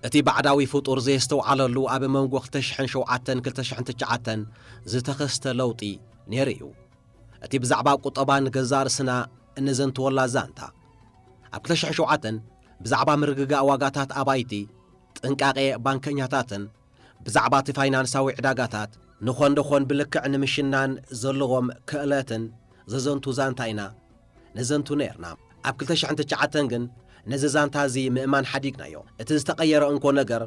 እቲ ባዕዳዊ ፍጡር ዘየስተውዓለሉ ኣብ መንጎ 2007-2009 ዝተኸስተ ለውጢ ነይሩ እዩ። እቲ ብዛዕባ ቁጠባ ንገዛ ርእስና እንዘንትወላ ዛንታ ኣብ 2007 ብዛዕባ ምርግጋእ ዋጋታት ኣባይቲ ጥንቃቄ ባንከኛታትን ብዛዕባ'ቲ ፋይናንሳዊ ዕዳጋታት ንኮንዶኾን ብልክዕ ንምሽናን ዘለዎም ክእለትን ዘዘንቱ ዛንታ ኢና ነዘንቱ ነይርና። ኣብ ክልተ ሽሕን ትሽዓተን ግን ነዚ ዛንታ እዚ ምእማን ሓዲግናዮ። እቲ ዝተቐየረ እንኮ ነገር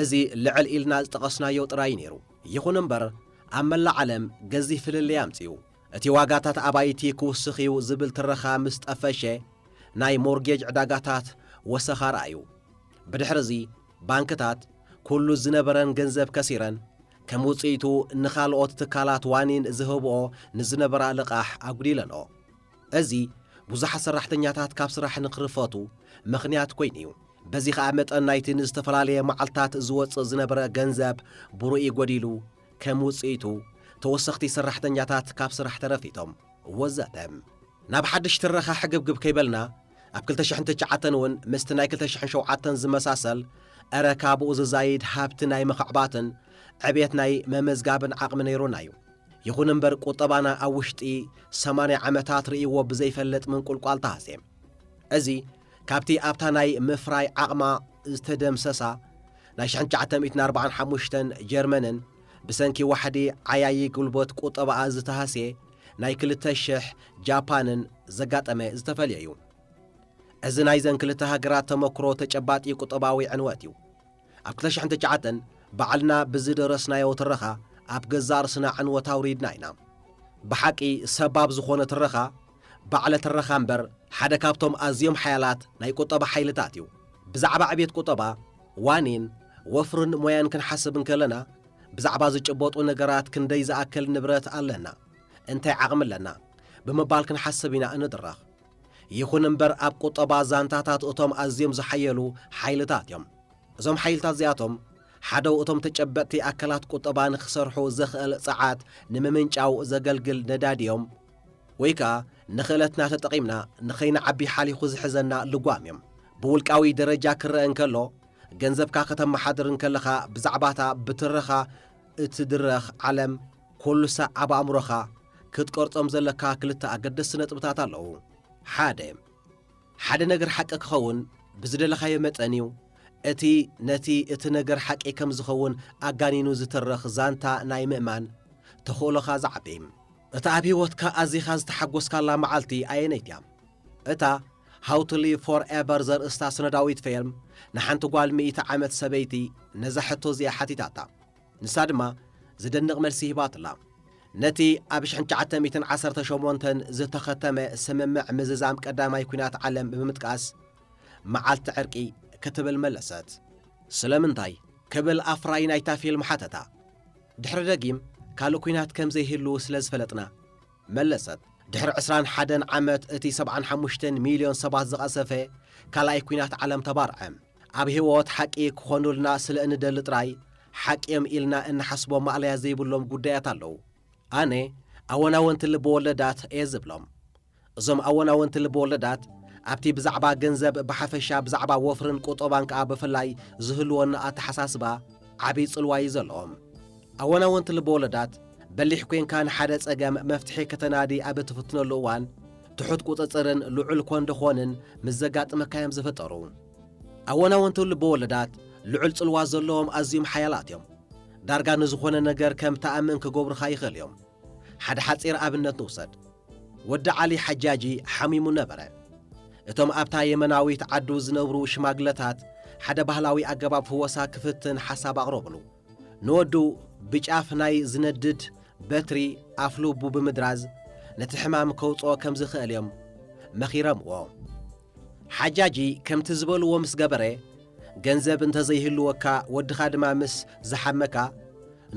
እዚ ልዕል ኢልና ዝጠቐስናዮ ጥራይ እዩ ነይሩ። ይኹን እምበር ኣብ መላእ ዓለም ገዚፍ ፍልልይ ኣምጺኡ። እቲ ዋጋታት ኣባይቲ ክውስኽ'ዩ ዝብል ትረኻ ምስ ጠፈሸ ናይ ሞርጌጅ ዕዳጋታት ወሰኻ ረኣዩ። ብድሕር'ዚ ባንክታት ኩሉ ዝነበረን ገንዘብ ከሲረን፣ ከም ውጽኢቱ ንኻልኦት ትካላት ዋኒን ዝህብኦ ንዝነበራ ልቓሕ ኣጉዲለንኦ። እዚ ብዙሓት ሰራሕተኛታት ካብ ስራሕ ንክርፈቱ ምኽንያት ኮይኑ እዩ። በዚ ከኣ መጠን ናይቲ ንዝተፈላለየ መዓልታት ዝወጽእ ዝነበረ ገንዘብ ብርኡይ ጎዲሉ፣ ከም ውጽኢቱ ተወሰኽቲ ሰራሕተኛታት ካብ ስራሕ ተረፊቶም። ወዘተ። ናብ ሓድሽ ትረኻ ሕግብግብ ከይበልና ኣብ ክልተ ሽሕን ትሽዓተን እውን ምስቲ ናይ ክልተ ሽሕን ሸውዓተን ዝመሳሰል እረ ካብኡ ዝዛይድ ሃብቲ ናይ ምኽዕባትን ዕብየት ናይ መመዝጋብን ዓቕሚ ነይሩና እዩ። ይኹን እምበር ቁጠባና ኣብ ውሽጢ ሰማንያ ዓመታት ርእይዎ ብዘይፈልጥ ምንቁልቋል ተሃስየ። እዚ ካብቲ ኣብታ ናይ ምፍራይ ዓቕማ ዝተደምሰሳ ናይ ሽሕን ትሽዓተ ሚእትን ኣርብዓን ሓሙሽተን ጀርመንን ብሰንኪ ዋሕዲ ዓያዪ ጉልበት ቁጠባኣ ዝተሃስየ ናይ ክልተ ሽሕ ጃፓንን ዘጋጠመ ዝተፈልየ እዩ። እዚ ናይዘን ክልተ ሃገራት ተመክሮ ተጨባጢ ቁጠባዊ ዕንወት እዩ። ኣብ ክልተ ሽሕን ትሽዓተን ባዕልና ብዝደረስናዮ ትረኻ ኣብ ገዛእ ርስና ዕንወት ኣውሪድና ኢና። ብሓቂ ሰባብ ዝኾነ ትረኻ ባዕለ ትረኻ እምበር ሓደ ካብቶም ኣዝዮም ሓያላት ናይ ቁጠባ ሓይልታት እዩ። ብዛዕባ ዕብየት ቁጠባ፣ ዋኒን፣ ወፍርን ሞያን ክንሓስብ እንከለና፣ ብዛዕባ ዝጭበጡ ነገራት ክንደይ ዝኣክል ንብረት ኣለና፣ እንታይ ዓቕሚ ኣለና ብምባል ክንሓስብ ኢና እንድረኽ። ይኹን እምበር ኣብ ቁጠባ ዛንታታት እቶም ኣዝዮም ዝሓየሉ ሓይልታት እዮም። እዞም ሓይልታት እዚኣቶም ሓደው እቶም ተጨበጥቲ ኣካላት ቁጠባ ንክሰርሑ ዘኽእል ጸዓት ንምምንጫው ዘገልግል ነዳዲ እዮም ወይ ከኣ ንኽእለትና ተጠቒምና ንኸይንዓቢ ሓሊኹ ዝሕዘና ልጓም እዮም። ብውልቃዊ ደረጃ ክረኣ እንከሎ ገንዘብካ ከተመሓድር እንከለኻ ብዛዕባታ ብትረኻ እትድረኽ ዓለም ኩሉሳ ኣብ ኣእምሮኻ ክትቀርጾም ዘለካ ክልተ ኣገደስቲ ነጥብታት ኣለዉ። ሓደ ሓደ ነገር ሓቂ ክኸውን ብዝደለኻዮ መጠን እዩ። እቲ ነቲ እቲ ነገር ሓቂ ከም ዝኸውን ኣጋኒኑ ዝትረኽ ዛንታ ናይ ምእማን ተኽእሎኻ ዝዓቢ። እታ ኣብ ህይወትካ ኣዚኻ ዝተሓጎስካላ መዓልቲ ኣየነይቲ እያ? እታ How to Live Forever ዘርእስታ ስነዳዊት ፌልም ንሓንቲ ጓል ሚእቲ ዓመት ሰበይቲ ነዛ ሕቶ እዚኣ ሓቲታታ። ንሳ ድማ ዝድንቕ መልሲ ሂባትላ። ነቲ ኣብ ሽሕን ትሽዓተ ሚእትን ዓሰርተ ሸሞንተን ዝተኸተመ ስምምዕ ምዝዛም ቀዳማይ ኲናት ዓለም ብምጥቃስ መዓልቲ ዕርቂ ክትብል መለሰት። ስለምንታይ? ክብል ኣፍራዪ ናይታ ፊልም ሓተታ። ድሕሪ ደጊም ካልእ ኲናት ከም ዘይህሉ ስለ ዝፈለጥና። መለሰት፣ ድሕሪ ዕስራን ሓደን ዓመት እቲ ሰብዓን ሓሙሽተን ሚልዮን ሰባት ዝቐሰፈ ካልኣይ ኲናት ዓለም ተባርዐ። ኣብ ህይወት ሓቂ ክኾኑልና ስለ እንደሊ ጥራይ ሓቂ'ዮም ኢልና እንሓስቦም ማእለያ ዘይብሎም ጉዳያት ኣለዉ። ኣነ ኣወናወንቲ ልበወለዳት እየ ዝብሎም። እዞም ኣወናወንቲ ልበወለዳት ኣብቲ ብዛዕባ ገንዘብ ብሓፈሻ ብዛዕባ ወፍርን ቁጠባን ከኣ ብፍላይ ዝህልወና ኣተሓሳስባ ዓቢ ጽልዋ'ዩ ዘለዎም። ኣወናወንቲ ልበወለዳት፣ በሊሕ ኴንካ ንሓደ ጸገም መፍትሒ ከተናዲ ኣብ እትፍትነሉ እዋን፣ ትሑት ቍጽጽርን ልዑል ኮንደኾንን ምስ ዘጋጥመካ እዮም ዝፍጠሩ። ኣወናወንቲ ልበወለዳት ልዑል ጽልዋ ዘለዎም ኣዝዩም ሓያላት እዮም። ዳርጋ ንዝዀነ ነገር ከም እትኣምን ክገብሩኻ ይኽእሉ እዮም። ሓደ ሓጺር ኣብነት ንውሰድ። ወዲ ዓሊ ሓጃጂ ሓሚሙ ነበረ። እቶም ኣብታ የመናዊት ዓዱ ዝነብሩ ሽማግለታት ሓደ ባህላዊ ኣገባብ ፍወሳ ክፍትን ሓሳብ ኣቕረቡሉ። ንወዱ ብጫፍ ናይ ዝነድድ በትሪ ኣፍ ልቡ ብምድራዝ ነቲ ሕማም ከውጽኦ ከም ዝኽእል እዮም መኺረምዎ። ሓጃጂ ከምቲ ዝበልዎ ምስ ገበረ፣ ገንዘብ እንተ ዘይህልወካ ወድኻ ድማ ምስ ዝሓመካ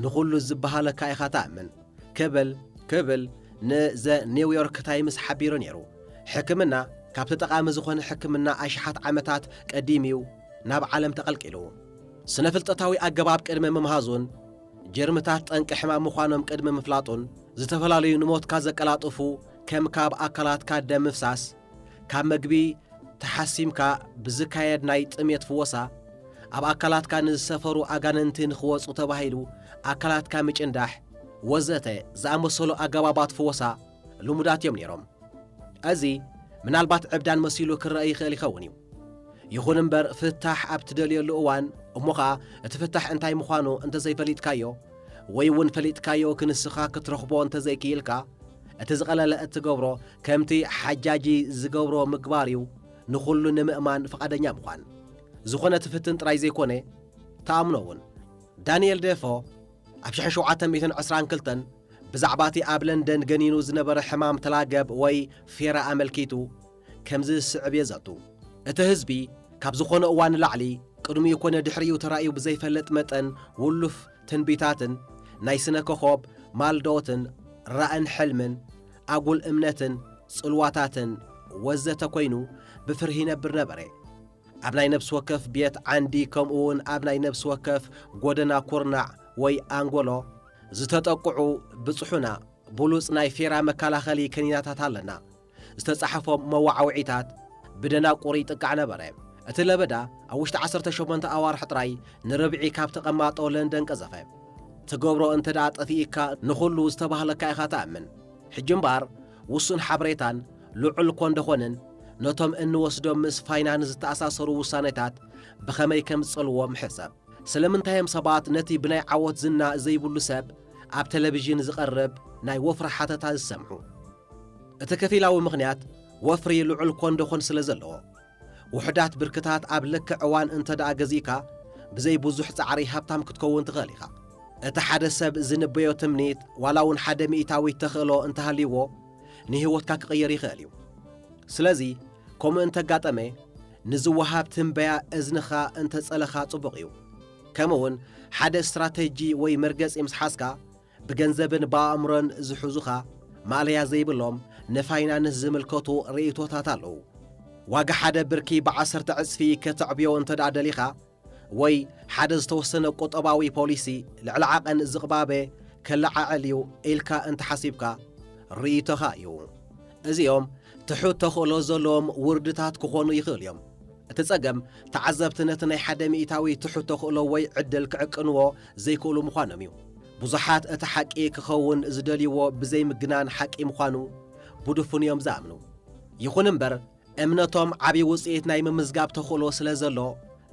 ንኹሉ ዝበሃለካ ኢኻ ትኣምን ክብል ክብል ን ዘ ኒው ዮርክ ታይምስ ሓቢሩ ነይሩ። ሕክምና ካብቲ ጠቓሚ ዝኾነ ሕክምና ኣሽሓት ዓመታት ቀዲሙ'ዩ ናብ ዓለም ተቐልቂሉ። ስነፍልጠታዊ ኣገባብ ቅድሚ ምምሃዙን ጀርምታት ጠንቂ ሕማም ምዃኖም ቅድሚ ምፍላጡን ዝተፈላለዩ ንሞትካ ዘቀላጥፉ ከም ካብ ኣካላትካ ደም ምፍሳስ፣ ካብ መግቢ ተሓሲምካ ብዝካየድ ናይ ጥምየት ፍወሳ፣ ኣብ ኣካላትካ ንዝሰፈሩ ኣጋንንቲ ንኽወጹ ተባሂሉ ኣካላትካ ምጭንዳሕ፣ ወዘተ ዝኣመሰሉ ኣገባባት ፍወሳ ልሙዳት እዮም ነይሮም። እዚ ምናልባት ዕብዳን መሲሉ ክረኣ ይኽእል ይኸውን እዩ። ይኹን እምበር ፍታሕ ኣብ ትደልየሉ እዋን እሞ ኸኣ እቲ ፍታሕ እንታይ ምዃኑ እንተ ዘይፈሊጥካዮ ወይ እውን ፈሊጥካዮ ክንስኻ ክትረኽቦ እንተ ዘይክኢልካ እቲ ዝቐለለ እትገብሮ ከምቲ ሓጃጂ ዝገብሮ ምግባር እዩ ንኹሉ ንምእማን ፍቓደኛ ምዃን ዝኾነ ትፍትን ጥራይ ዘይኮነ ተኣምኖ እውን ዳንኤል ዴፎ ኣብ 1722 ብዛዕባቲ ኣብ ለንደን ገኒኑ ዝነበረ ሕማም ተላገብ ወይ ፌራ ኣመልኪቱ ከምዚ ዝስዕብ የዘቱ። እቲ ህዝቢ ካብ ዝኾነ እዋን ንላዕሊ ቅድሚኡ ኮነ ድሕሪኡ ተራእዩ ብዘይፈልጥ መጠን ውሉፍ ትንቢታትን ናይ ስነ ኮኾብ ማልዶትን ራእን ሕልምን ኣጉል እምነትን ጽልዋታትን ወዘተ ኮይኑ ብፍርሂ ይነብር ነበረ። ኣብ ናይ ነብሲ ወከፍ ቤት ዓንዲ ከምኡውን ኣብ ናይ ነብሲ ወከፍ ጎደና ኩርናዕ ወይ ኣንጎሎ ዝተጠቅዑ ብጽሑና ብሉጽ ናይ ፌራ መከላኸሊ ከኒናታት ኣለና። ዝተጻሕፎም መወዓውዒታት ብደናቁር ይጥቃዕ ነበረ። እቲ ለበዳ ኣብ ውሽጢ ዓሰርተ ሸሞንተ ኣዋርሕ ጥራይ ንርብዒ ካብ ተቐማጦ ለንደን ቀዘፈ። ትገብሮ እንተደኣ ጠፊኢካ ንኹሉ ዝተባህለካ ኢኻ ትኣምን። ሕጂ እምበኣር ውሱን ሓበሬታን ልዑል ኮንደኾንን ነቶም እንወስዶም ምስ ፋይናንስ ዝተኣሳሰሩ ውሳኔታት ብኸመይ ከም ዝጸልዎም ሕሰብ። ስለምንታይ እዮም ሰባት ነቲ ብናይ ዓወት ዝና ዘይብሉ ሰብ ኣብ ተለቪዥን ዝቐርብ ናይ ወፍሪ ሓተታ ዝሰምዑ? እቲ ከፊላዊ ምኽንያት ወፍሪ ልዑል ኮንደኾን ስለ ዘለዎ። ውሑዳት ብርክታት ኣብ ልክዕ እዋን እንተድኣ ገዚእካ፣ ብዘይ ብዙሕ ጻዕሪ ሃብታም ክትከውን ትኽእል ኢኻ። እቲ ሓደ ሰብ ዚንበዮ ትምኒት፣ ዋላ እውን ሓደ ሚእታዊት ተኽእሎ እንተ ሃልይዎ፣ ንህይወትካ ኪቕይር ይኽእል እዩ። ስለዚ፣ ከምኡ እንተ ኣጋጠመ፣ ንዚወሃብ ትንበያ እዝንኻ እንተ ጸለኻ ጽቡቕ እዩ። ከምኡውን ሓደ ስትራተጂ ወይ መርገጺ ምስ ሓዝካ፣ ብገንዘብን ብኣእምሮን ዝሕዙኻ ማእለያ ዘይብሎም ንፋይናንስ ዝምልከቱ ርእይቶታት ኣለዉ። ዋጋ ሓደ ብርኪ ብዓሰርተ ዕጽፊ ከተዕብዮ እንተድኣ ደሊኻ ወይ ሓደ ዝተወሰነ ቁጠባዊ ፖሊሲ ልዕሊ ዓቐን ዝቕባበ ከለዓዕል እዩ ኢልካ እንተሓሲብካ ርእይቶኻ እዩ። እዚኦም ትሑት ተኽእሎ ዘለዎም ውርድታት ክኾኑ ይኽእሉ እዮም። እቲ ጸገም ተዓዘብቲ ነቲ ናይ ሓደ ሚእታዊ ትሑት ተኽእሎ ወይ ዕድል ክዕቅንዎ ዘይክእሉ ምዃኖም እዩ። ብዙሓት እቲ ሓቂ ክኸውን ዝደልይዎ ብዘይምግናን ሓቂ ምዃኑ ብድፉን እዮም ዝኣምኑ። ይኹን እምበር እምነቶም ዓብዪ ውፅኢት ናይ ምምዝጋብ ተኽእሎ ስለ ዘሎ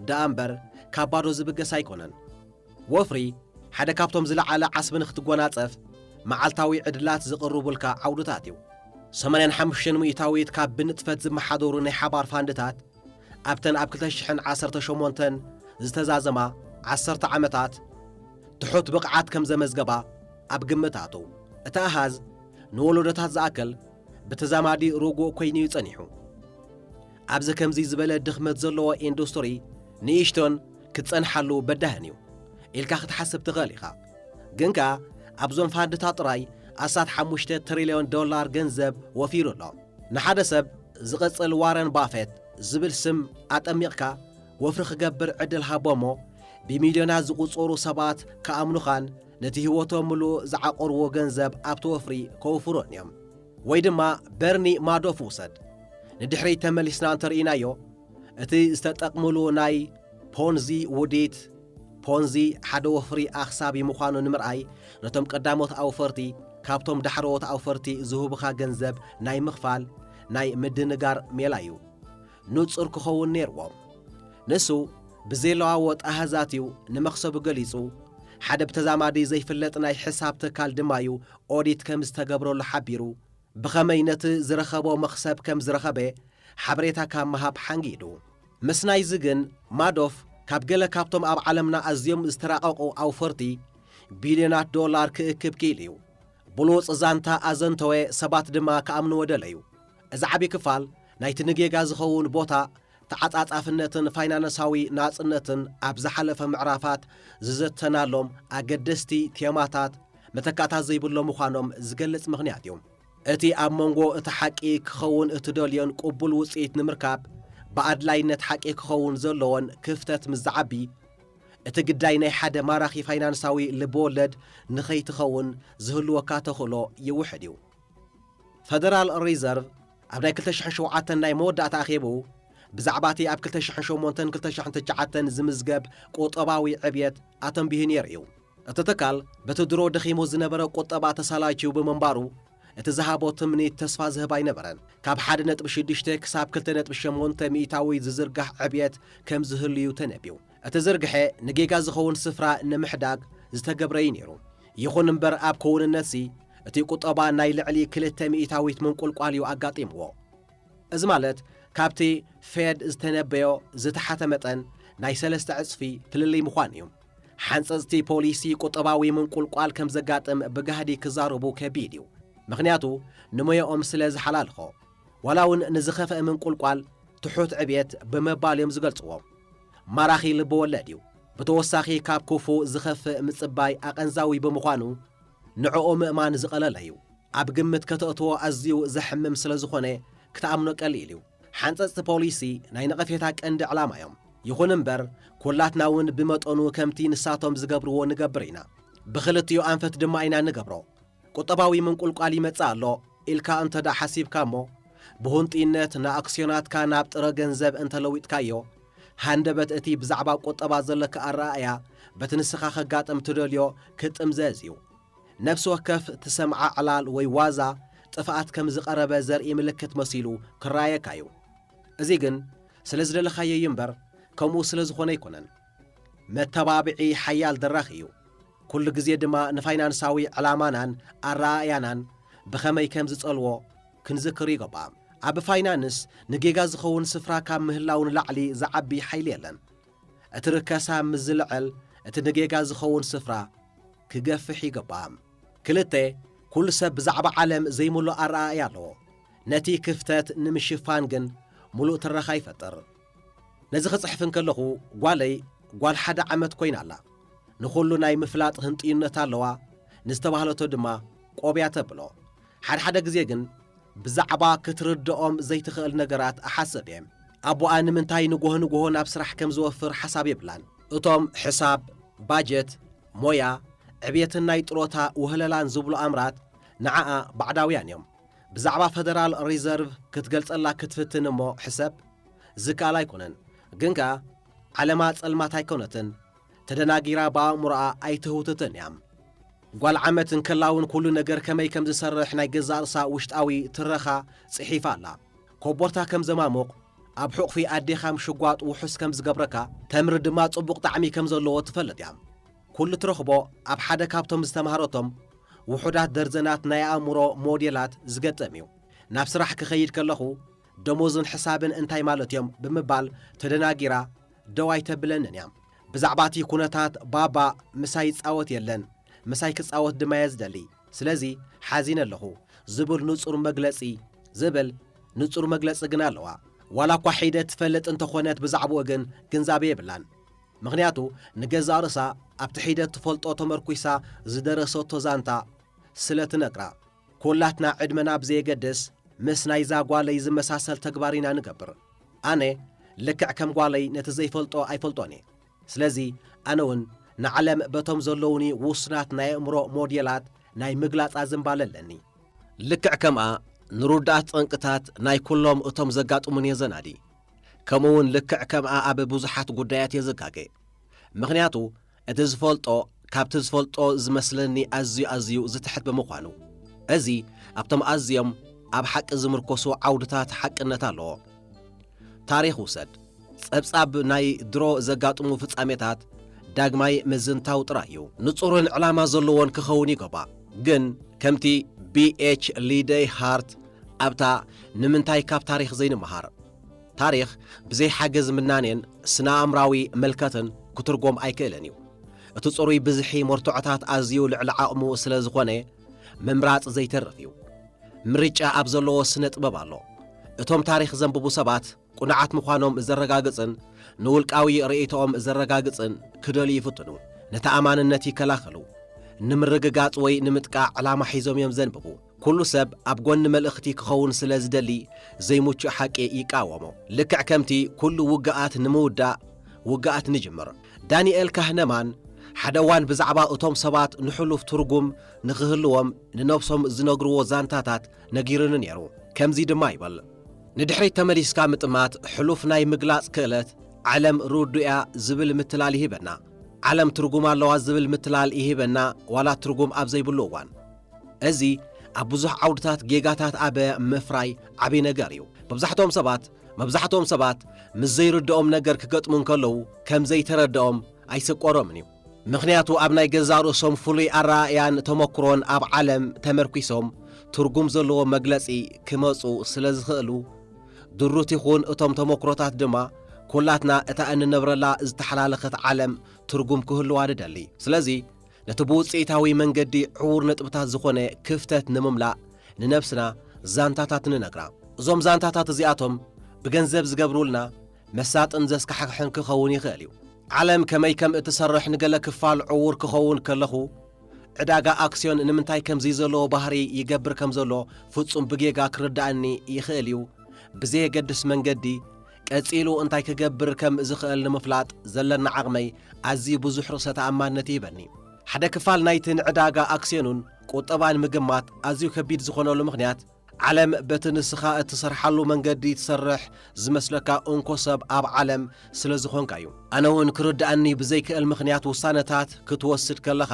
ደኣ እምበር ካብ ባዶ ዝብገስ ኣይኮነን። ወፍሪ ሓደ ካብቶም ዝለዓለ ዓስቢ ንክትጎናፀፍ መዓልታዊ ዕድላት ዝቕርቡልካ ዓውድታት እዩ። ሰማንያን ሓሙሽተን ምኢታዊት ካብ ብንጥፈት ዝመሓደሩ ናይ ሓባር ፋንድታት ኣብተን ኣብ ክልተ ሽሕን ዓሰርተ ሸሞንተን ዝተዛዘማ ዓሰርተ ዓመታት ትሑት ብቕዓት ከም ዘመዝገባ ኣብ ግምት ኣቱ። እቲ ኣሃዝ ንወለዶታት ዝኣክል ብተዛማዲ ርጉእ ኮይኑ'ዩ ጸኒሑ። ኣብዚ ከምዚ ዝበለ ድኽመት ዘለዎ ኢንዱስትሪ ንእሽቶን ክጸንሓሉ በዳህን እዩ ኢልካ ክትሓስብ ትኽእል ኢኻ። ግን ከኣ ኣብዞም ፋንድታት ጥራይ ኣስታት ሓሙሽተ ትሪልዮን ዶላር ገንዘብ ወፊሩ ኣሎ። ንሓደ ሰብ ዝቕጽል ዋረን ባፌት ዝብል ስም ኣጠሚቕካ ወፍሪ ክገብር ዕድል ሃቦ'ሞ ብሚልዮናት ዝቑጸሩ ሰባት ክኣምኑኻን ነቲ ህይወቶም ምሉእ ዝዓቖርዎ ገንዘብ ኣብቲ ወፍሪ ከውፍሩን እዮም። ወይ ድማ በርኒ ማዶፍ ውሰድ። ንድሕሪት ተመሊስና እንተርኢናዮ እቲ ዝተጠቅምሉ ናይ ፖንዚ ውዲት ፖንዚ ሓደ ወፍሪ ኣኽሳቢ ምዃኑ ንምርኣይ ነቶም ቀዳሞት ኣውፈርቲ ካብቶም ዳሕረዎት ኣውፈርቲ ዝህቡኻ ገንዘብ ናይ ምኽፋል ናይ ምድንጋር ሜላ እዩ። ንጹር ክኸውን ነይርዎ። ንሱ ብዘይለዋወጥ ኣሃዛት እዩ ንመኽሰቡ ገሊጹ፣ ሓደ ብተዛማዲ ዘይፍለጥ ናይ ሕሳብ ትካል ድማ እዩ ኦዲት ከም ዝተገብረሉ ሓቢሩ። ብኸመይ ነቲ ዝረኸቦ መኽሰብ ከም ዝረኸበ ሓበሬታ ካብ ምሃብ ሓንጊዱ። ምስ ናይዚ ግን፣ ማዶፍ ካብ ገለ ካብቶም ኣብ ዓለምና ኣዝዮም ዝተራቐቑ ኣውፈርቲ ቢልዮናት ዶላር ክእክብ ክኢሉ እዩ። ብሉጽ ዛንታ ኣዘንተወ፣ ሰባት ድማ ክኣምንዎ ደለዩ። እዚ ዓቢ ክፋል ናይቲ ንጌጋ ዝኸውን ቦታ ተዓጻጻፍነትን ፋይናነሳዊ ናጽነትን ኣብ ዝሓለፈ ምዕራፋት ዝዘተናሎም ኣገደስቲ ቴማታት መተካእታ ዘይብሎም ምዃኖም ዝገልጽ ምኽንያት እዩ። እቲ ኣብ መንጎ እቲ ሓቂ ክኸውን እትደልዮን ቅቡል ውጽኢት ንምርካብ ብኣድላይነት ሓቂ ክኸውን ዘሎዎን ክፍተት ምስ ዝዓቢ፣ እቲ ግዳይ ናይ ሓደ ማራኺ ፋይናንሳዊ ልብወለድ ንኸይትኸውን ዝህልወካ ተኽእሎ ይውሕድ እዩ። ፈደራል ሪዘርቭ ኣብ ናይ ክልተ ሽሕን ሸውዓተን ናይ መወዳእታ ኣኼብኡ፣ ብዛዕባ እቲ ኣብ ክልተ ሽሕን ሸሞንተን ክልተ ሽሕን ትሽዓተን ዝምዝገብ ቁጠባዊ ዕብየት ኣተንቢሁ ነይሩ እዩ። እቲ ትካል በቲ ድሮ ደኺሙ ዝነበረ ቁጠባ ተሳላችዩ ብምንባሩ፣ እቲ ዝሃቦ ትምኒት ተስፋ ዝህብ ኣይነበረን። ካብ ሓደ ነጥቢ ሽዱሽተ ክሳብ ክልተ ነጥቢ ሸሞንተ ሚኢታዊ ዝዝርጋሕ ዕብየት ከም ዝህሉ'ዩ ተነብዩ። እቲ ዝርግሐ ንጌጋ ዝኸውን ስፍራ ንምሕዳግ ዝተገብረ እዩ ነይሩ። ይኹን እምበር ኣብ ክውንነትሲ እቲ ቁጠባ ናይ ልዕሊ ክልተ ሚኢታዊት ምንቁልቋል እዩ ኣጋጢምዎ። እዚ ማለት ካብቲ ፌድ ዝተነበዮ ዝተሓተ መጠን ናይ ሰለስተ ዕጽፊ ፍልልይ ምዃኑ እዩ። ሓንጸጽቲ ፖሊሲ ቁጠባዊ ምንቁልቋል ከምዘጋጥም ብጋህዲ ክዛረቡ ከቢድ እዩ፣ ምኽንያቱ ንሞያኦም ስለ ዝሓላልኾ። ዋላ ውን ንዝኸፈኣ ምንቁልቋል ትሑት ዕብየት ብምባል እዮም ዝገልጽዎ። ማራኺ ልበወለድ እዩ። ብተወሳኺ ካብ ክፉእ ዝኸፍእ ምጽባይ ኣቐንዛዊ ብምዃኑ ንዕኡ ምእማን ዝቐለለ እዩ። ኣብ ግምት ከተእትዎ ኣዝዩ ዘሕምም ስለ ዝኾነ ክትኣምኖ ቀሊል እዩ። ሓንጸጽቲ ፖሊሲ ናይ ነቐፌታ ቀንዲ ዕላማ እዮም። ይኹን እምበር ኩላትና ውን ብመጠኑ ከምቲ ንሳቶም ዝገብርዎ ንገብር ኢና። ብኽልቲኡ ኣንፈት ድማ ኢና እንገብሮ። ቁጠባዊ ምንቁልቋል ይመጽእ ኣሎ ኢልካ እንተድኣ ሓሲብካ እሞ፣ ብሁንጥይነት ንኣክስዮናትካ ናብ ጥረ ገንዘብ እንተ ለዊጥካዮ፣ ሃንደበት እቲ ብዛዕባ ቁጠባ ዘለካ ኣረኣእያ በቲ ንስኻ ከጋጥም እትደልዮ ክጥምዘዝ እዩ። ነፍሲ ወከፍ ትሰምዓ ዕላል ወይ ዋዛ ጥፍኣት ከም ዝቐረበ ዘርኢ ምልክት መሲሉ ክረኣየካ እዩ። እዚ ግን ስለ ዝደለኻዮ እዩ እምበር ከምኡ ስለ ዝኾነ ኣይኮነን። መተባብዒ ሓያል ድራኽ እዩ፣ ኩሉ ግዜ ድማ ንፋይናንሳዊ ዕላማናን ኣረኣእያናን ብኸመይ ከም ዝጸልዎ ክንዝክር ይገባእ። ኣብ ፋይናንስ ንጌጋ ዝኸውን ስፍራ ካብ ምህላው ንላዕሊ ዝዓቢ ሓይሊ የለን። እቲ ርከሳ ምስ ዝልዕል እቲ ንጌጋ ዝኸውን ስፍራ ክገፍሕ ይገባእ። ክልተ፣ ኩሉ ሰብ ብዛዕባ ዓለም ዘይምሉእ ኣረኣእያ ኣለዎ፣ ነቲ ክፍተት ንምሽፋን ግን ምሉእ ትረኻ ይፈጥር። ነዚ ክጽሕፍ እንከለኹ ጓለይ ጓል ሓደ ዓመት ኮይና ኣላ። ንኹሉ ናይ ምፍላጥ ህንጥዩነት ኣለዋ፣ ንዝተባህለቶ ድማ ቆብ እያ ተብሎ። ሓድሓደ ግዜ ግን ብዛዕባ ክትርድኦም ዘይትኽእል ነገራት እሓስብ እየ። ኣቦኣ ንምንታይ ንጎሆ ንጎሆ ናብ ስራሕ ከም ዝወፍር ሓሳብ የብላን። እቶም ሕሳብ፣ ባጀት፣ ሞያ፣ ዕብየትን ናይ ጥሮታ ውህለላን ዝብሉ ኣምራት ንዓኣ ባዕዳውያን እዮም። ብዛዕባ ፈደራል ሪዘርቭ ክትገልጸላ ክትፍትን እሞ ሕሰብ፣ ዝከኣል ኣይኮነን። ግን ከኣ ዓለማ ጸልማት ኣይኮነትን፣ ተደናጊራ ብኣእምሮኣ ኣይትህውትትን እያ። ጓል ዓመት እንከላውን ኩሉ ነገር ከመይ ከም ዝሰርሕ ናይ ገዛእ ርእሳ ውሽጣዊ ትረኻ ጽሒፋ ኣላ። ኮቦርታ ከም ዘማሙቕ፣ ኣብ ሑቕፊ ኣዴኻ ምሽጓጥ ውሑስ ከም ዝገብረካ፣ ተምሪ ድማ ጽቡቕ ጣዕሚ ከም ዘለዎ ትፈልጥ እያ። ኩሉ ትረኽቦ ኣብ ሓደ ካብቶም ዝተማህረቶም ውሑዳት ደርዘናት ናይ ኣእምሮ ሞዴላት ዝገጠም እዩ። ናብ ስራሕ ክኸይድ ከለኹ ደሞዝን ሕሳብን እንታይ ማለት እዮም ብምባል ተደናጊራ ደው ኣይተብለንን እያ። ብዛዕባቲ ኩነታት ባባ ምሳይ ይጻወት የለን፣ ምሳይ ክጻወት ድማ እየ ዝደሊ፣ ስለዚ ሓዚነ ኣለኹ ዝብል ንጹር መግለጺ ዝብል ንጹር መግለጺ ግን ኣለዋ። ዋላኳ ሒደት ትፈልጥ እንተኾነት ብዛዕብኡ ግን ግንዛቤ የብላን። ምኽንያቱ ንገዛእ ርእሳ ኣብቲ ሒደት ትፈልጦ ተመርኲሳ ዝደረሰቶ ዛንታ ስለ ትነግራ። ኵላትና ዕድመና ብዘየገድስ ምስ ናይዛ ጓለይ ዝመሳሰል ተግባር ኢና ንገብር። ኣነ ልክዕ ከም ጓለይ ነቲ ዘይፈልጦ ኣይፈልጦን እየ። ስለዚ ኣነ'ውን ንዓለም በቶም ዘለዉኒ ውሱናት ናይ ኣእምሮ ሞዴላት ናይ ምግላጻ ዝንባለ ኣለኒ። ልክዕ ከምኣ ንርዱኣት ጠንቅታት ናይ ኵሎም እቶም ዘጋጥሙኒ እየ ዘናዲ። ከምኡውን ልክዕ ከምኣ ኣብ ብዙሓት ጉዳያት የዝጋገ ምኽንያቱ እቲ ዝፈልጦ ካብቲ ዝፈልጦ ዝመስለኒ ኣዝዩ ኣዝዩ ዝትሕት ብምዃኑ። እዚ ኣብቶም ኣዝዮም ኣብ ሓቂ ዝምርኮሱ ዓውድታት ሓቅነት ኣለዎ። ታሪኽ ውሰድ። ጸብጻብ ናይ ድሮ ዘጋጥሙ ፍጻሜታት ዳግማይ ምዝንታው ጥራይ እዩ። ንጹርን ዕላማ ዘለዎን ክኸውን ይገባእ። ግን ከምቲ ቢኤች ሊደይ ሃርት ኣብታ ንምንታይ ካብ ታሪኽ ዘይንመሃር? ታሪኽ ብዘይ ሓገዝ ምናኔን ስነ-ኣእምራዊ ምልከትን ክትርጎም ኣይክእልን እዩ። እቲ ጽሩይ ብዝሒ መርትዖታት ኣዝዩ ልዕሊ ዓቕሙ ስለ ዝኾነ ምምራጽ ዘይተርፍ እዩ። ምርጫ ኣብ ዘለዎ ስነ-ጥበብ ኣሎ። እቶም ታሪኽ ዘንብቡ ሰባት፣ ቅኑዓት ምዃኖም ዘረጋግጽን ንውልቃዊ ርእይቶኦም ዘረጋግጽን ክደልዩ ይፍትኑ። ንተኣማንነት ይከላኸሉ። ንምርግጋጽ ወይ ንምጥቃዕ ዕላማ ሒዞም እዮም ዘንብቡ። ኩሉ ሰብ ኣብ ጎኒ መልእኽቲ ክኸውን ስለ ዝደሊ ዘይምቹእ ሓቂ ይቃወሞ። ልክዕ ከምቲ ኩሉ ውግኣት ንምውዳእ ውግኣት ንጅምር። ዳኒኤል ካህነማን ሓደ እዋን ብዛዕባ እቶም ሰባት ንሕሉፍ ትርጉም ንኽህልዎም ንነብሶም ዝነግርዎ ዛንታታት ነጊሩኒ ነይሩ። ከምዚ ድማ ይብል። ንድሕሪት ተመሊስካ ምጥማት ሕሉፍ ናይ ምግላጽ ክእለት፣ ዓለም ርዱእ'ያ ዝብል ምትላል ይህበና። ዓለም ትርጉም ኣለዋ ዝብል ምትላል ይህበና ዋላ ትርጉም ኣብ ዘይብሉ እዋን። እዚ ኣብ ብዙሕ ዓውድታት ጌጋታት ኣብ ምፍራይ ዓቢ ነገር እዩ። መብዛሕትኦም ሰባት መብዛሕትኦም ሰባት ምስ ዘይርድኦም ነገር ክገጥሙ እንከለዉ ከም ዘይተረድኦም ኣይስቆሮምን እዩ። ምኽንያቱ ኣብ ናይ ገዛእ ርእሶም ፍሉይ ኣረኣእያን ተመኩሮን ኣብ ዓለም ተመርኲሶም ትርጉም ዘለዎ መግለጺ ክመጹ ስለ ዝኽእሉ። ድሩት ይኹን እቶም ተመኩሮታት ድማ ኩላትና እታ እንነብረላ ዝተሓላለኸት ዓለም ትርጉም ክህልዋ ንደሊ። ስለዚ ነቲ ብውጽኢታዊ መንገዲ ዕዉር ነጥብታት ዝኾነ ክፍተት ንምምላእ ንነብስና ዛንታታት ንነግራ። እዞም ዛንታታት እዚኣቶም ብገንዘብ ዝገብሩልና መሳጥን ዘስካሕክሕን ክኸውን ይኽእል እዩ። ዓለም ከመይ ከም እትሰርሕ ንገለ ክፋል ዕዉር ክኸውን ከለኹ፣ ዕዳጋ ኣክስዮን ንምንታይ ከምዚ ዘለዎ ባህሪ ይገብር ከም ዘሎ ፍጹም ብጌጋ ክርድኣኒ ይኽእል እዩ፣ ብዘየገድስ መንገዲ፣ ቀጺሉ እንታይ ክገብር ከም ዝኽእል ንምፍላጥ ዘለና ዓቕመይ ኣዝዩ ብዙሕ ርእሰ ተኣማንነት ይህበኒ። ሓደ ክፋል ናይቲ ንዕዳጋ ኣክስዮንን ቁጠባን ምግማት ኣዝዩ ከቢድ ዝኾነሉ ምኽንያት፣ ዓለም በቲ ንስኻ እትሰርሓሉ መንገዲ ትሰርሕ ዝመስለካ እንኮ ሰብ ኣብ ዓለም ስለ ዝኾንካ እዩ። ኣነ እውን ክርድኣኒ ብዘይክእል ምኽንያት ውሳነታት ክትወስድ ከለኻ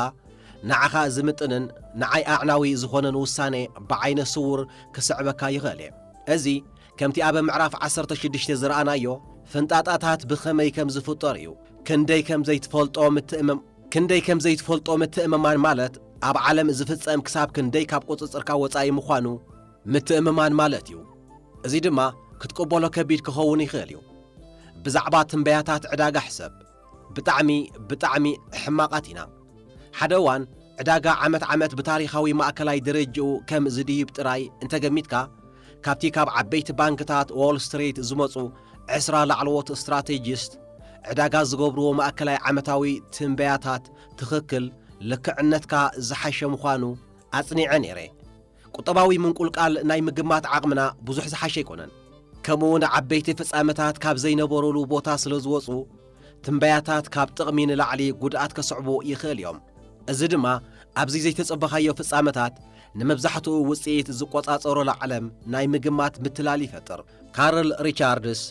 ንዓኻ ዝምጥንን ንዓይ ኣዕናዊ ዝኾነን ውሳነ ብዓይነ ስውር ክስዕበካ ይኽእል እየ። እዚ ከምቲ ኣብ ምዕራፍ ዓሰርተ ሽዱሽተ ዝረኣናዮ ፍንጣጣታት ብኸመይ ከም ዝፍጠር እዩ። ክንደይ ከም ዘይትፈልጦ ምትእም ክንደይ ከም ዘይትፈልጦ ምትእምማን ማለት ኣብ ዓለም ዝፍጸም ክሳብ ክንደይ ካብ ቁጽጽርካ ወጻኢ ምዃኑ ምትእምማን ማለት እዩ። እዚ ድማ ክትቅበሎ ከቢድ ክኸውን ይኽእል እዩ። ብዛዕባ ትንበያታት ዕዳጋ ሕሰብ። ብጣዕሚ ብጣዕሚ ሕማቓት ኢና። ሓደ እዋን ዕዳጋ ዓመት ዓመት ብታሪኻዊ ማእከላይ ደረጅኡ ከም ዝድይብ ጥራይ እንተገሚትካ ካብቲ ካብ ዓበይቲ ባንክታት ዎል ስትሪት ዝመጹ ዕስራ ላዕለዎት ስትራቴጂስት ዕዳጋ ዝገብርዎ ማእከላይ ዓመታዊ ትንበያታት ትኽክል ልክዕነትካ ዝሓሸ ምዃኑ ኣጽኒዐ ነይረ። ቁጠባዊ ምንቁልቃል ናይ ምግማት ዓቕምና ብዙሕ ዝሓሸ ኣይኮነን። ከምኡ'ውን ዓበይቲ ፍጻመታት ካብ ዘይነበሩሉ ቦታ ስለ ዝወጹ፣ ትንበያታት ካብ ጥቕሚ ንላዕሊ ጉድኣት ከስዕቡ ይኽእል እዮም። እዚ ድማ ኣብዚ ዘይተጸበኻዮ ፍጻመታት ንመብዛሕትኡ ውጽኢት ዝቆጻጸሮላ ዓለም ናይ ምግማት ምትላል ይፈጥር። ካርል ሪቻርድስ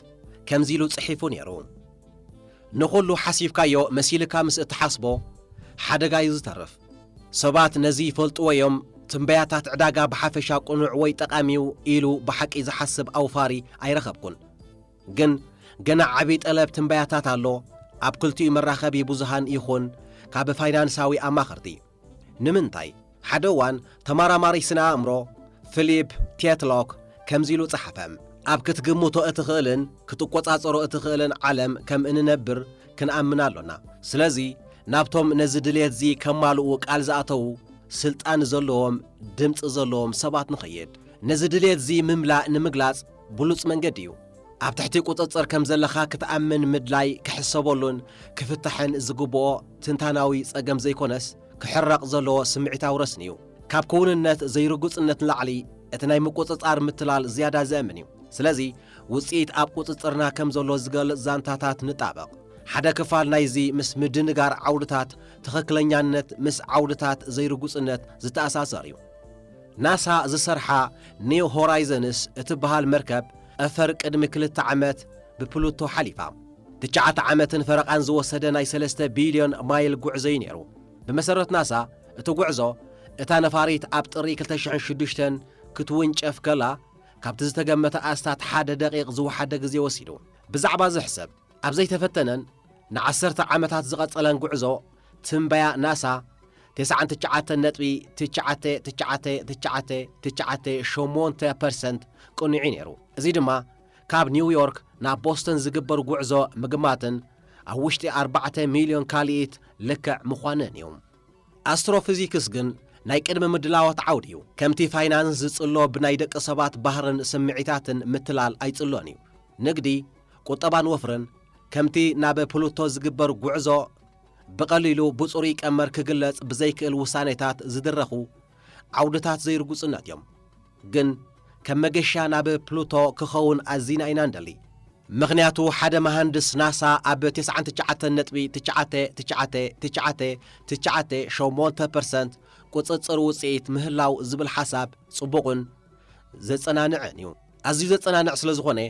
ከምዚ ኢሉ ጽሒፉ ነይሩ፣ ንኹሉ ሓሲብካዮ መሲልካ ምስ እትሓስቦ ሓደጋ እዩ ዝተርፍ። ሰባት ነዚ ይፈልጥዎ እዮም፣ ትንበያታት ዕዳጋ ብሓፈሻ ቅኑዕ ወይ ጠቓሚ'ዩ ኢሉ ብሓቂ ዝሓስብ ኣውፋሪ ኣይረኸብኩን። ግን ገና ዓቢ ጠለብ ትንበያታት ኣሎ፣ ኣብ ክልቲኡ መራኸቢ ብዙሃን ይኹን ካብ ፋይናንሳዊ ኣማኸርቲ። ንምንታይ? ሓደ እዋን ተማራማሪ ስነ-ኣእምሮ ፍሊፕ ቴትሎክ ከምዚ ኢሉ ጸሓፈ፣ ኣብ ክትግምቶ እትኽእልን ክትቆጻጸሮ እትኽእልን ዓለም ከም እንነብር ክንኣምን ኣሎና። ስለዚ ናብቶም ነዚ ድሌትዚ ከማልኡ ቃል ዝኣተዉ ስልጣን ዘለዎም ድምጺ ዘለዎም ሰባት ንኸይድ። ነዚ ድሌትዚ ምምላእ ንምግላጽ ብሉጽ መንገዲ እዩ። ኣብ ትሕቲ ቁጽጽር ከም ዘለኻ ክትኣምን ምድላይ ክሕሰበሉን ክፍታሕን ዝግብኦ ትንታናዊ ጸገም ዘይኮነስ ክሕረቕ ዘለዎ ስምዒታዊ ረስኒ እዩ። ካብ ክውንነት ዘይርጉጽነት ንላዕሊ እቲ ናይ ምቁጽጻር ምትላል ዝያዳ ዘእምን እዩ። ስለዚ ውጽኢት ኣብ ቁጽጽርና ከም ዘሎ ዝገልጽ ዛንታታት ንጣበቕ። ሓደ ክፋል ናይዚ ምስ ምድንጋር ዓውድታት ትኽክለኛነት ምስ ዓውድታት ዘይርጉጽነት ዝተኣሳሰር እዩ። ናሳ ዝሰርሓ ኒው ሆራይዘንስ እትበሃል መርከብ ጠፈር ቅድሚ ክልተ ዓመት ብፕሉቶ ሓሊፋ። ትሽዓተ ዓመትን ፈረቓን ዝወሰደ ናይ ሰለስተ ቢልዮን ማይል ጉዕዞ'ዩ ነይሩ። ብመሰረት ናሳ እቲ ጉዕዞ፣ እታ ነፋሪት ኣብ ጥሪ ክልተ ሽሕን ሽዱሽተን ክትውንጨፍ ከላ ካብቲ ዝተገመተ ኣስታት ሓደ ደቒቕ ዝወሓደ ግዜ ወሲዱ። ብዛዕባ'ዚ ሕሰብ። ኣብ ዘይተፈተነን ንዓሰርተ ዓመታት ዝቐጸለን ጉዕዞ ትንበያ ናሳ፣ ተስዓን ትሽዓተን ነጥቢ ትሽዓተ ትሽዓተ ትሽዓተ ትሽዓተ ሸሞንተ ፐርሰንት ቅኑዕ'ዩ ነይሩ። እዚ ድማ ካብ ኒውዮርክ ናብ ቦስተን ዝግበር ጉዕዞ ምግማትን ኣብ ውሽጢ ኣርባዕተ ሚልዮን ካልኢት ልክዕ ምዃንን'ዩ። ኣስትሮፍዚክስ ግን ናይ ቅድመ ምድላዋት ዓውዲ'ዩ። ከምቲ ፋይናንስ ዝጽሎ ብናይ ደቂ ሰባት ባህርን ስምዒታትን ምትላል ኣይጽሎን'ዩ። ንግዲ፣ ቁጠባን ወፍርን ከምቲ ናብ ፕሉቶ ዝግበር ጉዕዞ ብቐሊሉ ብጽሩይ ቀመር ክግለጽ ብዘይክእል ውሳኔታት ዝድረኹ ዓውድታት ዘይርጉጽነት እዮም። ግን ከም መገሻ ናብ ፕሉቶ ክኸውን ኣዚና ኢና እንደሊ። ምኽንያቱ ሓደ መሃንድስ ናሳ ኣብ ተስዓን ትሽዓተን ነጥቢ ትሽዓተ ትሽዓተ ትሽዓተ ትሽዓተ ሸሞንተ ፐርሰንት ቁጽጽር ውጽኢት ምህላው ዝብል ሓሳብ ጽቡቕን ዘጸናንዕን እዩ። ኣዝዩ ዘጸናንዕ ስለ ዝኾነ፣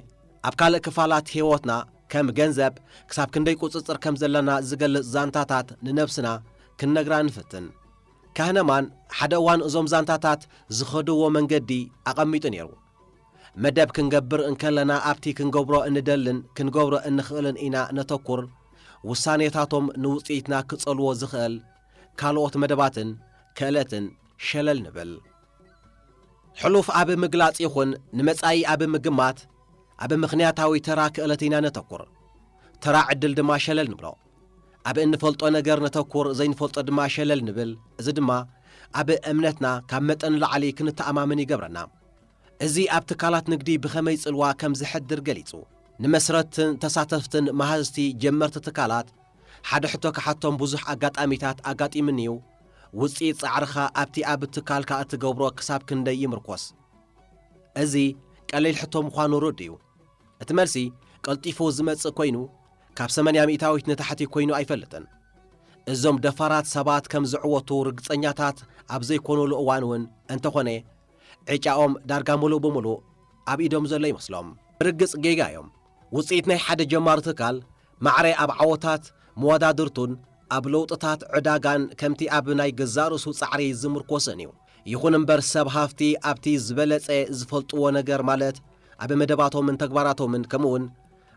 ኣብ ካልእ ክፋላት ህይወትና ከም ገንዘብ ክሳብ ክንደይ ቁጽጽር ከም ዘለና ዝገልጽ ዛንታታት ንነብስና ክንነግራ ንፍትን። ካህነማን ሓደ እዋን እዞም ዛንታታት ዝኸድዎ መንገዲ ኣቐሚጡ ነይሩ። መደብ ክንገብር እንከለና ኣብቲ ክንገብሮ እንደልን ክንገብሮ እንኽእልን ኢና ነተኩር፣ ውሳኔታቶም ንውጽኢትና ክጸልዎ ዝኽእል ካልኦት መደባትን ክእለትን ሸለል ንብል። ሕሉፍ ኣብ ምግላጽ ይኹን ንመጻኢ ኣብ ምግማት ኣብ ምኽንያታዊ ተራ ክእለት ኢና ነተኩር። ተራ ዕድል ድማ ሸለል ንብሎ። ኣብ እንፈልጦ ነገር ነተኩር ዘይንፈልጦ ድማ ሸለል ንብል እዚ ድማ ኣብ እምነትና ካብ መጠን ንላዕሊ ክንተኣማመን ይገብረና። እዚ ኣብ ትካላት ንግዲ ብኸመይ ጽልዋ ከም ዘሕድር ገሊጹ። ንመስረትትን ተሳተፍትን መሃዝቲ ጀመርቲ ትካላት ሓደ ሕቶ ክሓቶም ብዙሕ ኣጋጣሚታት ኣጋጢሙኒ'ዩ። ውጽኢት ጻዕርኻ ኣብቲ ኣብ ትካልካ እትገብሮ ክሳብ ክንደይ ይምርኮስ? እዚ ቀሊል ሕቶ ምዃኑ ርዱእ እዩ። እቲ መልሲ ቀልጢፉ ዝመጽእ ኰይኑ፣ ካብ ሰመንያ ሚእታዊት ንታሕቲ ኰይኑ ኣይፈልጥን። እዞም ደፋራት ሰባት ከም ዝዕወቱ ርግጸኛታት ኣብ ዘይኰኑሉ እዋን እውን እንተዀነ፣ ዕጫኦም ዳርጋ ምሉእ ብምሉእ ኣብ ኢዶም ዘሎ ይመስሎም። ብርግጽ ጌጋ እዮም። ውጽኢት ናይ ሓደ ጀማሪ ትካል ማዕረ ኣብ ዓወታት መወዳድርቱን ኣብ ለውጥታት ዕዳጋን ከምቲ ኣብ ናይ ገዛእ ርእሱ ጻዕሪ ዝምርኮስን እዩ። ይኹን እምበር ሰብ ሃፍቲ ኣብቲ ዝበለጸ ዝፈልጥዎ ነገር ማለት ኣብ መደባቶምን ተግባራቶምን ከምኡውን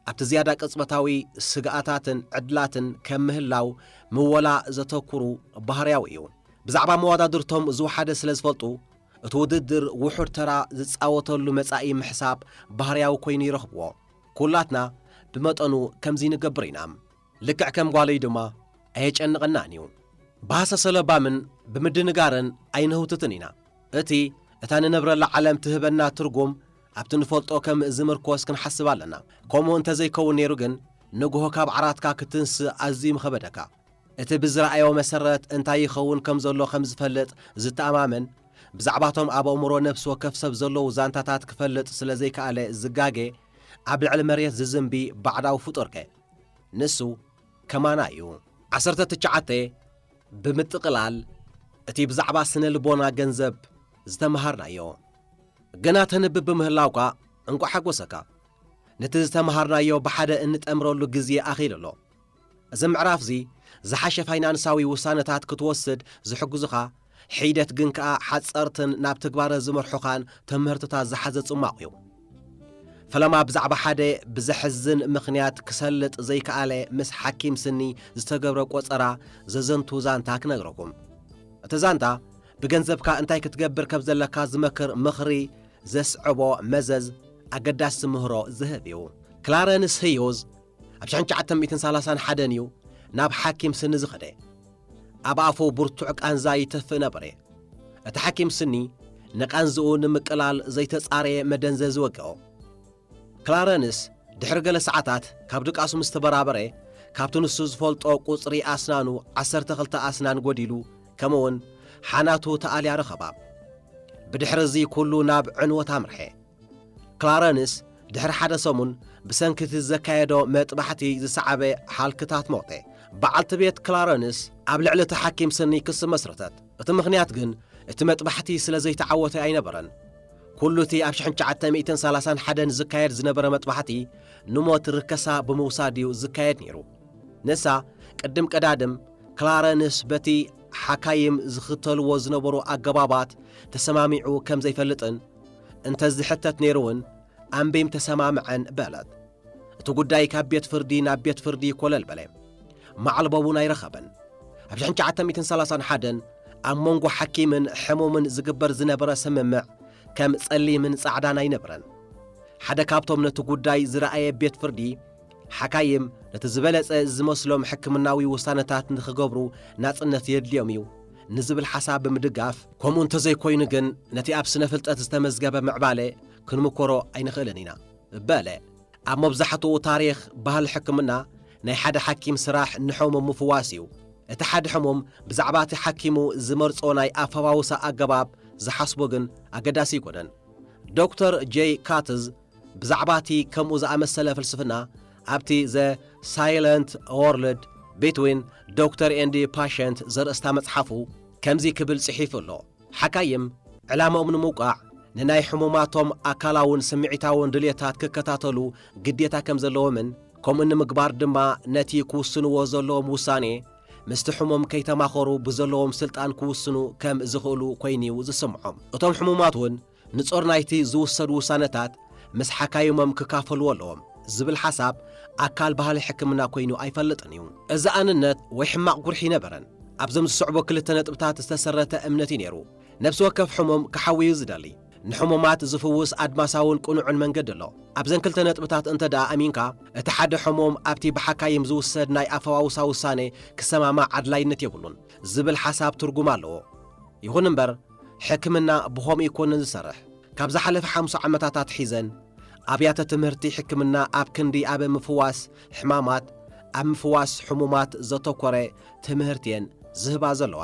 ኣብቲ ዝያዳ ቅጽበታዊ ስግኣታትን ዕድላትን ከም ምህላው ምወላ ዘተኩሩ ባህርያዊ እዩ። ብዛዕባ መወዳድርቶም ዝወሓደ ስለ ዝፈልጡ እቲ ውድድር ውሑድ ተራ ዝጻወተሉ መጻኢ ምሕሳብ ባህርያዊ ኮይኑ ይረኽብዎ። ኩላትና ብመጠኑ ከምዚ ንገብር ኢና። ልክዕ ከም ጓለይ ድማ ኣየጨንቐናን እዩ። ብሃሰሰ ለባምን ብምድንጋርን ኣይንህውትትን ኢና። እቲ እታ ንነብረላ ዓለም ትህበና ትርጉም ኣብቲ ንፈልጦ ከም ዝምርኮስ ክንሓስብ ኣለና። ከምኡ እንተ ዘይከውን ነይሩ ግን ንግሆ ካብ ዓራትካ ክትንስእ ኣዝዩ ምኸበደካ። እቲ ብዝረኣዮ መሰረት እንታይ ይኸውን ከም ዘሎ ከም ዝፈልጥ ዝተኣማመን፣ ብዛዕባቶም ኣብ ኣእምሮ ነፍሲ ወከፍ ሰብ ዘለዉ ዛንታታት ክፈልጥ ስለ ዘይከኣለ ዝጋገ ኣብ ልዕሊ መሬት ዝዝንቢ ባዕዳዊ ፍጡርከ? ንሱ ከማና እዩ። ዓሰርተ ትሽዓተ፣ ብምጥቕላል እቲ ብዛዕባ ስነ ልቦና ገንዘብ ዝተመሃርናዮ ገና ተንብብ ብምህላውካ እንቋዕ ሓጎሰካ። ነቲ ዝተመሃርናዮ ብሓደ እንጠምረሉ ግዜ ኣኺሉ ኣሎ። እዚ ምዕራፍ'ዚ ዝሓሸ ፋይናንሳዊ ውሳነታት ክትወስድ ዝሕግዙኻ፣ ሒደት ግን ከኣ ሓጸርትን ናብ ትግባረ ዝመርሑኻን ትምህርትታት ዝሓዘ ጽሟቕ'ዩ። ፈለማ ብዛዕባ ሓደ ብዘሕዝን ምኽንያት ክሰልጥ ዘይከኣለ ምስ ሓኪም ስኒ ዝተገብረ ቆጸራ ዘዘንቱ ዛንታ ክነግረኩም። እቲ ዛንታ ብገንዘብካ እንታይ ክትገብር ከም ዘለካ ዝመክር ምኽሪ ዘስዕቦ መዘዝ ኣገዳሲ ምህሮ ዝህብ'ዩ። ክላረንስ ህዩዝ ኣብ ሽሕን ትሽዓተ ሚእትን ሳላሳን ሓደን እዩ ናብ ሓኪም ስኒ ዝኸደ። ኣብ ኣፉ ብርቱዕ ቃንዛ ይተፍእ ነበረ። እቲ ሓኪም ስኒ ንቓንዝኡ ንምቅላል ዘይተጻረየ መደንዘዚ ወግኦ። ክላረንስ ድሕሪ ገለ ሰዓታት ካብ ድቃሱ ምስ ተበራበረ ካብቲ ንሱ ዝፈልጦ ቁጽሪ ኣስናኑ ዓሰርተ ክልተ ኣስናን ጎዲሉ ከምኡውን ሓናቱ ተኣልያ ረኸባ። ብድሕሪ እዚ ኩሉ ናብ ዕንወት ኣምርሐ። ክላረንስ ድሕሪ ሓደ ሰሙን ብሰንኪ እቲ ዘካየዶ መጥባሕቲ ዝሰዓበ ሃልክታት ሞተ። በዓልቲ ቤት ክላረንስ ኣብ ልዕሊ እቲ ሓኪም ስኒ ክሲ መስረተት፣ እቲ ምኽንያት ግን እቲ መጥባሕቲ ስለ ዘይተዓወተ ኣይነበረን። ኵሉ እቲ ኣብ ሽሕን ትሽዓተ ሚእትን ሰላሳን ሓደን ዝካየድ ዝነበረ መጥባሕቲ ንሞት ርከሳ ብምውሳድ እዩ ዝካየድ ነይሩ። ንሳ ቅድም ቀዳድም ክላረንስ በቲ ሓካይም ዝኽተልዎ ዝነበሩ ኣገባባት ተሰማሚዑ ከም ዘይፈልጥን፣ እንተዝሕተት ነይሩውን ኣምቤም ተሰማምዐን በለት። እቲ ጉዳይ ካብ ቤት ፍርዲ ናብ ቤት ፍርዲ ኮለል በለ። መዓልቦ እውን ኣይረኸበን። ኣብ 1931 ኣብ መንጎ ሓኪምን ሕሙምን ዝግበር ዝነበረ ስምምዕ ከም ጸሊምን ጻዕዳን ኣይነበረን። ሓደ ካብቶም ነቲ ጉዳይ ዝረኣየ ቤት ፍርዲ ሓካይም ነቲ ዝበለጸ ዝመስሎም ሕክምናዊ ውሳነታት ንኽገብሩ ናጽነት የድልዮም እዩ ንዝብል ሓሳብ ብምድጋፍ፣ ከምኡ እንተዘይኮይኑ ግን ነቲ ኣብ ስነ-ፍልጠት ዝተመዝገበ ምዕባለ ክንምኮሮ ኣይንኽእልን ኢና በለ። ኣብ መብዛሕትኡ ታሪኽ ባህሊ ሕክምና፣ ናይ ሓደ ሓኪም ስራሕ ንሕሙም ምፍዋስ እዩ። እቲ ሓደ ሕሙም ብዛዕባ እቲ ሓኪሙ ዝመርጾ ናይ ኣፈዋውሳ ኣገባብ ዝሓስቦ ግን ኣገዳሲ ኣይኮነን። ዶክተር ጀይ ካትዝ፣ ብዛዕባ እቲ ከምኡ ዝኣመሰለ ፍልስፍና ኣብቲ ዘ ሳይለንት ዎርልድ ቢትዊን ዶክተር ኤንድ ፓሸንት ዘርእስታ መጽሓፉ ከምዚ ክብል ጽሒፉ ኣሎ፣ ሓካይም ዕላምኦም ንምውቃዕ ንናይ ሕሙማቶም ኣካላውን ስምዒታውን ድሌታት ክከታተሉ ግዴታ ከም ዘለዎምን ከምኡ ንምግባር ድማ ነቲ ክውስንዎ ዘለዎም ውሳኔ ምስቲ ሕሙም ከይተማኸሩ ብዘለዎም ስልጣን ክውስኑ ከም ዝኽእሉ ኮይኑ'ዩ ዝስምዖም። እቶም ሕሙማት እውን ንጾር ናይቲ ዝውሰዱ ውሳነታት ምስ ሓካይሞም ክካፈልዎ ኣለዎም ዝብል ሓሳብ ኣካል ባህሊ ሕክምና ኮይኑ ኣይፈልጥን እዩ። እዚ ኣንነት ወይ ሕማቕ ጉርሒ ኣይነበረን። ኣብዘም ዝስዕቡ ክልተ ነጥብታት ዝተሰረተ እምነት እዩ ነይሩ፣ ነብሲ ወከፍ ሕሙም ክሓዊ እዩ ዝደሊ። ንሕሙማት ዝፍውስ ኣድማሳውን ቅኑዕን መንገዲ ኣሎ። ኣብዘን ክልተ ነጥብታት እንተድኣ ኣሚንካ፣ እቲ ሓደ ሕሙም ኣብቲ ብሓካይም ዝውሰድ ናይ ኣፈዋውሳ ውሳነ ክሰማማዕ ኣድላይነት የብሉን ዝብል ሓሳብ ትርጉም ኣለዎ። ይኹን እምበር፣ ሕክምና ብኸምኡ ኣይኮነን ዝሰርሕ። ካብ ዝሓለፈ ሓምሳ ዓመታት ኣትሒዘን ኣብያተ ትምህርቲ ሕክምና ኣብ ክንዲ ኣብ ምፍዋስ ሕማማት ኣብ ምፍዋስ ሕሙማት ዘተኮረ ትምህርቲ'የን ዝህባ ዘለዋ።